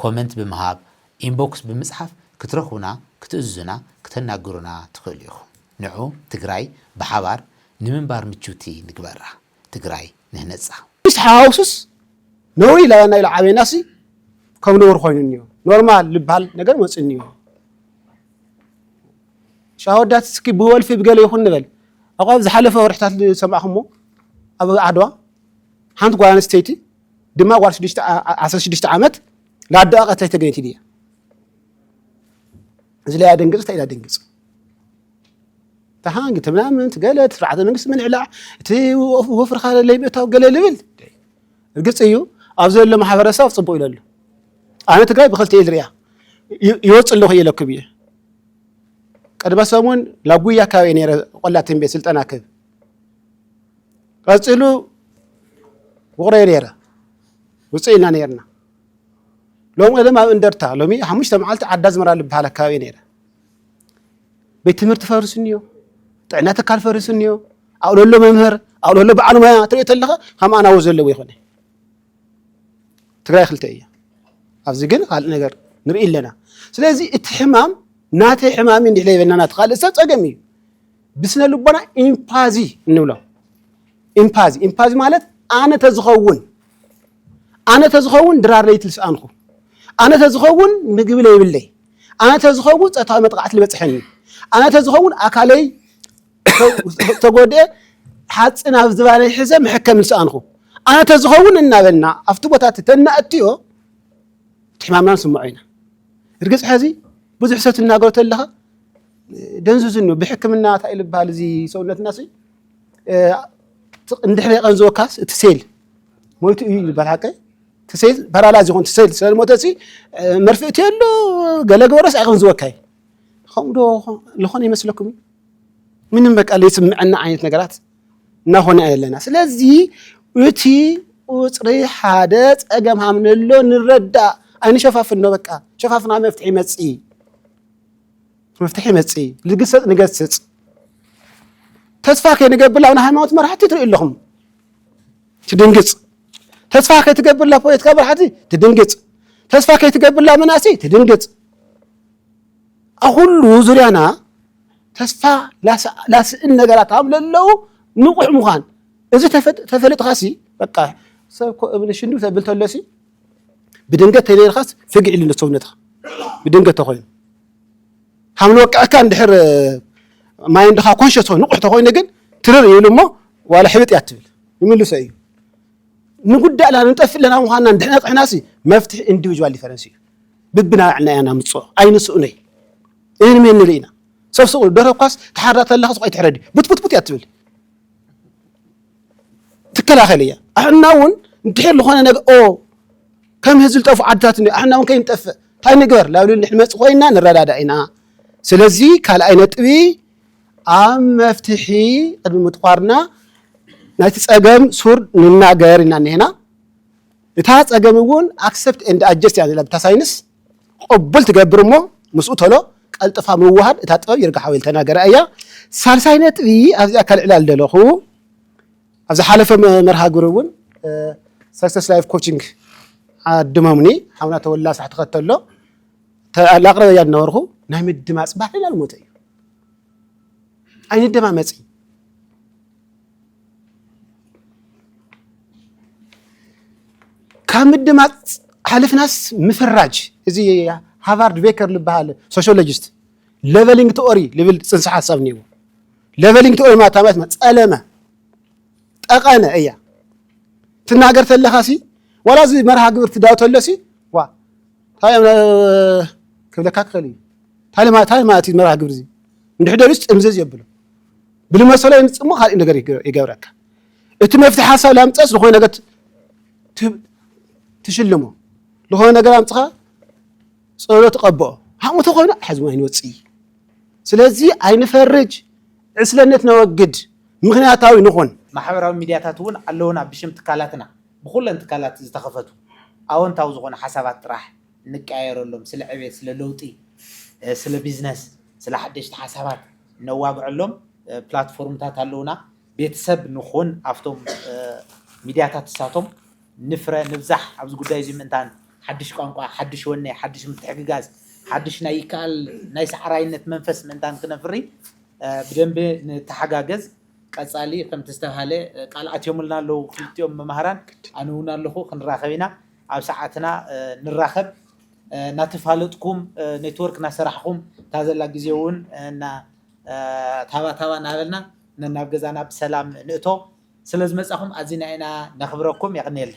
ኮመንት ብምሃብ፣ ኢንቦክስ ብምፅሓፍ ክትረኽቡና፣ ክትእዝዙና፣ ክተናግሩና ትኽእሉ ኢኹም። ንዑ ትግራይ ብሓባር ንምንባር ምችውቲ ንግበራ። ትግራይ ንህነፃ። ምስ ሓዋውሱስ ነውሪ ኢላና ኢሉ ዓብየናሲ ከም ነውሪ ኮይኑ እኒኦ ኖርማል ልብሃል ነገር መፅኡ እኒኦ። ሸዋ ወዳት እስኪ ብወልፊ ብገለ ይኹን ንበል ኣቋ ኣብ ዝሓለፈ ወርሕታት ዝሰማዕኹሞ ኣብ ዓድዋ ሓንቲ ጓል ኣንስተይቲ ድማ ጓል 16 ዓመት ለኣደኣ ቀትሪ ተገኝት ድያ እዚ ላይ ኣደንግፅ እንታይ ኢላ ደንግፅ ተሃንግ ትምናምን ትገለ ስርዓተ መንግስቲ ምልዕላዕ እቲ ወፍርካ ለይምእታው ገለ ልብል እርግፅ እዩ ኣብ ዘሎ ማሕበረሰብ ፅቡቅ ኢለሉ ኣነ ትግራይ ብክልተ ኢል ሪያ ይወፅ ኣለኹ ኢለኩም እየ ቅድመ ሰሙን ናብ ጉያ ኣካባቢ ነረ ቆላ ትንቤት ስልጠና ክብ ቀፅሉ ውቕሮ ነረ ውፅእ ኢና ነርና ሎም ቀደም ኣብ እንደርታ ሎሚ ሓሙሽተ መዓልቲ ዓዳ ዝመራ ዝበሃል ኣካባቢ ነረ ቤት ትምህርቲ ፈርሱ እኒዮ ጥዕና ትካል ፈርሱ እኒዮ ኣብለሎ መምህር ኣብለሎ በዓል ሞያ ትሪኦ ተለኻ ከም ኣናዎ ዘለዎ ይኾነ ትግራይ ክልተ እያ። ኣብዚ ግን ካልእ ነገር ንርኢ ኣለና። ስለዚ እቲ ሕማም ናተይ ሕማም እዩ እንድሕለ ይበልና ናቲ ካልእ ሰብ ፀገም እዩ። ብስነ ልቦና ኢምፓዚ እንብሎ ኢምፓዚ ኢምፓዚ ማለት ኣነ ተዝኸውን ኣነ ተዝኸውን ድራር ለይቲ ልስኣንኹ ኣነ ተዝኸውን ምግቢ ለይብለይ ኣነ ተዝኸውን ፀታዊ መጥቃዕቲ ልበፅሐኒ ኣነ ተዝኸውን ኣካለይ ዝተጎድኤ ሓፂን ኣብ ዝባነይ ሕዘ መሕከሚ ዝሰኣንኹ ኣነ ተዝኸውን እናበልና ኣብቲ ቦታ እቲ ተናእትዮ እቲ ሕማምና ንስምዖ ኢና እርግፅ ሕዚ ብዙሕ ሰብ ትናገሮ ተለኻ ደንዙዝን እዩ ብሕክምና እንታይ ኢሉ ዝበሃል እዚ ሰውነትና ሲ እንድሕሪ የቐንዝወካስ እቲ ሴል ሞይቱ እዩ ዝበሃል ሓቀ እቲ ሴል ፓራላይዝ ይኹን እቲ ሴል ስለዝሞተ ሲ መርፍእቲ ኣሎ ገለ ግበረስ ኣይቐንዝወካይ ከምኡ ዶ ዝኾነ ይመስለኩም እዩ ምንም በቃ ዘይስምዐና ዓይነት ነገራት እናኾነ ኢና ዘለና ስለዚ እቲ ቁፅሪ ሓደ ፀገም ሃም ንሎ ንረዳእ ኣይንሸፋፍኖ በቃ ሸፋፍና መፍትሒ ይመፅእ እዩ መፍትሒ ይመፅእ እዩ ልግሰፅ ንገስፅ ተስፋ ከይንገብር ኣብ ናይ ሃይማኖት መራሕቲ ትርኢ ኣለኹም ትድንግፅ ተስፋ ከይትገብርላ ፖለቲካ መራሕቲ ትድንግፅ ተስፋ ከይትገብርላ መናእሰይ ትድንግፅ ኣኹሉ ዙርያና ተስፋ ላስእን ነገራት ኣብ ለለዉ ንቑሕ ምዃን እዚ ተፈልጥኻሲ በቃ ሰብ ኮ እብኒ ሽንዱ ተብል ተሎሲ ብድንገት ተነይርካስ ፍግዕ ኢሉ ሰውነትኻ ብድንገት ተኮይኑ ሓምሊ ወቅዕካ እንድሕር ማይ እንድኻ ኮንሸስ ኮይኑ ንቑሕ ተኮይኑ ግን ትርር ይብሉ እሞ ዋላ ሕብጥ እያ ትብል ይምልሶ እዩ ንጉዳእና ንጠፍእ ኣለና ምዃንና እንድሕና ፅሕናሲ መፍትሒ ኢንዲቪጁዋል ዲፈረንስ እዩ ብብናባዕልና ኢና ነምጽኦ ኣይንስእኖይ እን ሜን ንርኢ ኢና ሰብ ስቕ ደርሆ እኳስ ትሓርዳ ተለኻ ስቕ ኣይትሕረዲ ቡትቡትቡት እያ ትብል ትከላኸል እያ ኣሕና እውን እንድሕር ዝኾነ ነገ ኦ ከም ህዝቢ ዝጠፍኡ ዓድታት እኒ ኣሕና እውን ከይንጠፍእ እንታይ ንግበር ላብሊ ንመፅ ኮይና ንረዳዳ ኢና ስለዚ ካልኣይ ነጥቢ ኣብ መፍትሒ ቅድሚ ምጥቋርና ናይቲ ፀገም ሱር ንናገር ኢና እኒሄና እታ ጸገም እውን ኣክሰፕት ኤንድ ኣጀስት እያ ዘላ ብታ ሳይንስ ቕቡል ትገብር እሞ ምስኡ ቶሎ ቀልጥፋ ምውሃድ እታ ጥበብ ይርጋ ሓወይ ዝተናገራ እያ ሳልሳይ ነጥቢ ኣብዚኣ ከልዕላ ዝደለኹ ኣብ ዝሓለፈ መርሃ ግብሪ እውን ሰክሰስ ላይፍ ኮችንግ ዓድመሙኒ ሓውና ተወላ ሳሕ ትኸተሎ ላቕረበያ እናወርኹ ናይ ምድማፅ ባህልና ልሞተ እዩ ኣይንደማመፅ ካብ ምድማፅ ሓሊፍናስ ምፍራጅ እዚ ሃቫርድ ቤከር ዝበሃል ሶሾሎጂስት ሌቨሊንግ ቲኦሪ ዝብል ፅንሰ ሓሳብ እኒዎ ሌቨሊንግ ቲኦሪ ማለት ማለት ፀለመ ጠቐነ እያ ትናገር ተለኻ ሲ ዋላ እዚ መርሃ ግብር ትዳው ተሎ ሲ ዋ ታይ ክብለካ ክኽእል እዩ ታይ ማለት ታይ ማለት እዩ መርሃ ግብር እዚ እንድሕደሉስ ጥምዝዝ የብሎ ብልመሰሎ የምጽእ እሞ ካልእ ነገር ይገብረካ። እቲ መፍትሒ ሓሳብ ላምጸስ ዝኾነ ነገር ትሽልሞ ዝኾነ ነገር ኣምጽኻ ጸሎ ትቐብኦ ሃሙ ተኾይኑ ሓዝሞ ኣይንወጽእ እዩ። ስለዚ ኣይንፈርጅ፣ ዕስለነት ነወግድ፣ ምክንያታዊ ንኹን። ማሕበራዊ ሚድያታት እውን ኣለውና ብሽም ትካላትና ብኹለን ትካላት ዝተኸፈቱ ኣወንታዊ ዝኾኑ ሓሳባት ጥራሕ ንቀያየረሎም፣ ስለ ዕብየት፣ ስለ ለውጢ፣ ስለ ቢዝነስ፣ ስለ ሓደሽቲ ሓሳባት ነዋግዐሎም ፕላትፎርምታት ኣለዉና። ቤተሰብ ንኹን ኣብቶም ሚድያታት ንሳቶም ንፍረ፣ ንብዛሕ ኣብዚ ጉዳይ እዚ ምእንታን ሓድሽ ቋንቋ፣ ሓድሽ ወኔ፣ ሓድሽ ምትሕግጋዝ፣ ሓድሽ ናይ ይከኣል ናይ ሰዓራይነት መንፈስ ምእንታን ክነፍሪ ብደንቢ ንተሓጋገዝ። ቀፃሊ ከምቲ ዝተብሃለ ቃል ኣትዮምልና ኣለዉ ክልቲኦም መማህራን ኣነ እውን ኣለኹ ክንራኸብ ኢና። ኣብ ሰዓትና ንራኸብ ናተፋለጥኩም ኔትወርክ ናሰራሕኹም እታ ዘላ ግዜ እውን እና ታባ ታባ ናበልና ነናብ ገዛና ብሰላም ንእቶ ስለዝመፃኹም ኣዚና ኢና ነኽብረኩም የቕንየልና።